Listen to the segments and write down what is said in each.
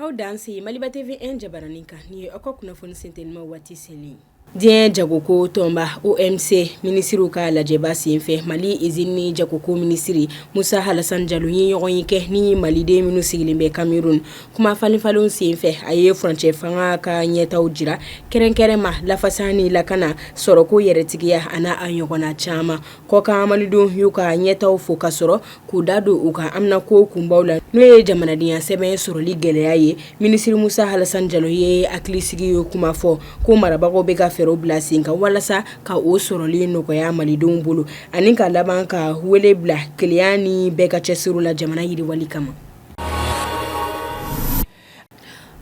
Aw danse maliba TV jabaranin kan ni aw ka kunnafoni sen teliman waati seli diɲɛ jagoko tɔnba OMC minisiriw ka lajɛba senfɛ mali izini ni jagoko minisiri musa alasan jalo ye ɲɔgɔnye kɛ ni maliden minnu sigilen bɛ kameruni kumafalenfalenw senfɛ a ye furancɛ fanga ka ɲɛtaaw jira kɛrɛnkɛrɛn ma lafasa ni lakana sɔrɔko yɛrɛtigiya ani a ɲɔgɔnna caman kɔkan malidenw y'u ka ɲɛtaaw fo ka sɔrɔ k'u da don u ka haminako kunbaw la n'o ye jamanadenya sɛbɛn sɔrɔli gɛlɛya ye minisiri musa alasan jalo ye hakilisigiya kuma fɔ ko marabagaw bɛ ka fɛɛrɛw bila sen kan walasa ka o sɔrɔli nɔgɔya malidenw bolo ani ka laban ka wele bila kelenya ni bɛɛ ka cɛsiri la jamana yiriwali kama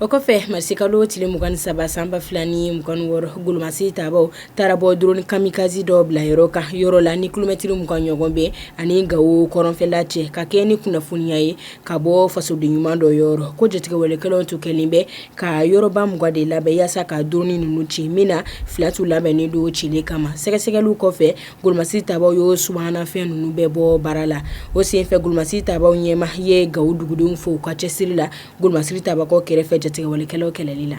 O kɔfɛ marisikalo tile mugan saba sanba 2 ni mugan wɔɔrɔ golomasiri tabaw taara bɔ droni kamikazi dɔ bila yɔrɔ kan yɔrɔ la ni kilomɛtiri mugan ɲɔgɔn bɛ ani gawo kɔrɔnfɛla cɛ ka kɛɲɛ ni kunnafoniya ye ka bɔ fasoden ɲuman dɔ yɔrɔ ko jatigɛwalekɛlaw tun kɛlen bɛ ka yɔrɔba mugan de labɛn yaasa ka droni ninnu ci min na fila tun labɛnnen don cili kama sɛgɛsɛgɛli kɔfɛ golomasiri tabaw ye subahanafɛn ninnu bɛɛ bɔ baara la o senfɛ golomasiri tabaw ɲɛmaa ye gawo dugudenw fo u ka cɛsiri la golomasiri tabaw kɛrɛfɛ jatigɛwalekɛlaw kɛlɛli la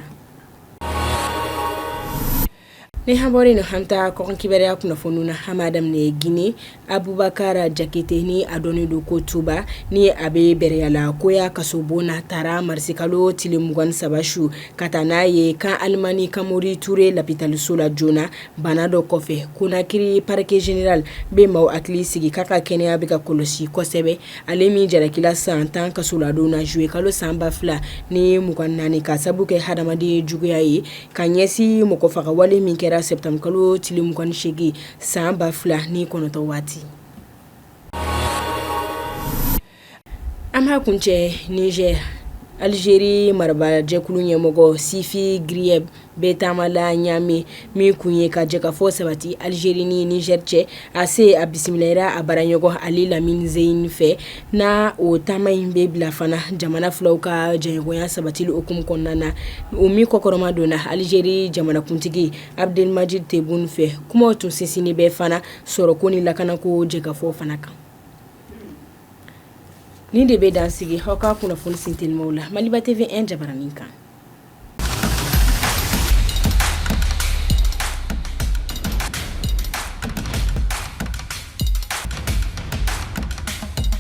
ni an bɔra yen an taa kɔkan kibaruya kunnafoni na an b'a daminɛ gine abubakara jakite ni a dɔnnen don ko tumba ni a bɛ bɛrɛyala koya kasobon na taara marisikalo tile mugan saba su ka taa n'a ye kan alimami kamori toure lopitaliso la joona Bana dɔ kɔfɛ konakiri parquet général bɛ maaw hakili sigi k'a ka kɛnɛya bɛ ka kɔlɔsi kosɛbɛ ale min jarakila san tan kasoladon na zuye kalo sanba fila ni mugan naani ka sabu kɛ hadamaden juguya ye ka ɲɛsin mɔgɔ faga wale min kɛra sɛtanburukalo tile mugan segin san ba fila ni kɔnɔntɔn waati An b'a kuncɛ nizɛr alizeri marabajɛkulu ɲɛmɔgɔ sifi grieb bɛ taama la ɲamɛ min kun ye ka jɛkafɔ sabati alizeri ni nizɛri cɛ a se a bisimilara a baaraɲɔgɔn ali lamini zein fɛ na o taama in bɛ bila fana jamana filaw ka jɛɲɔgɔnya sabatili hukumu kɔnɔna na o min kɔkɔrɔmadonna alizeri jamanakuntigi abdelmajid tebun fɛ kumaw tun sinsinnen bɛ fana sɔrɔko ni lakanako jɛkafɔ fana kan Nin de bɛ dan sigi aw ka kunnafoni sen telimanw la maliba TV jabaranin kan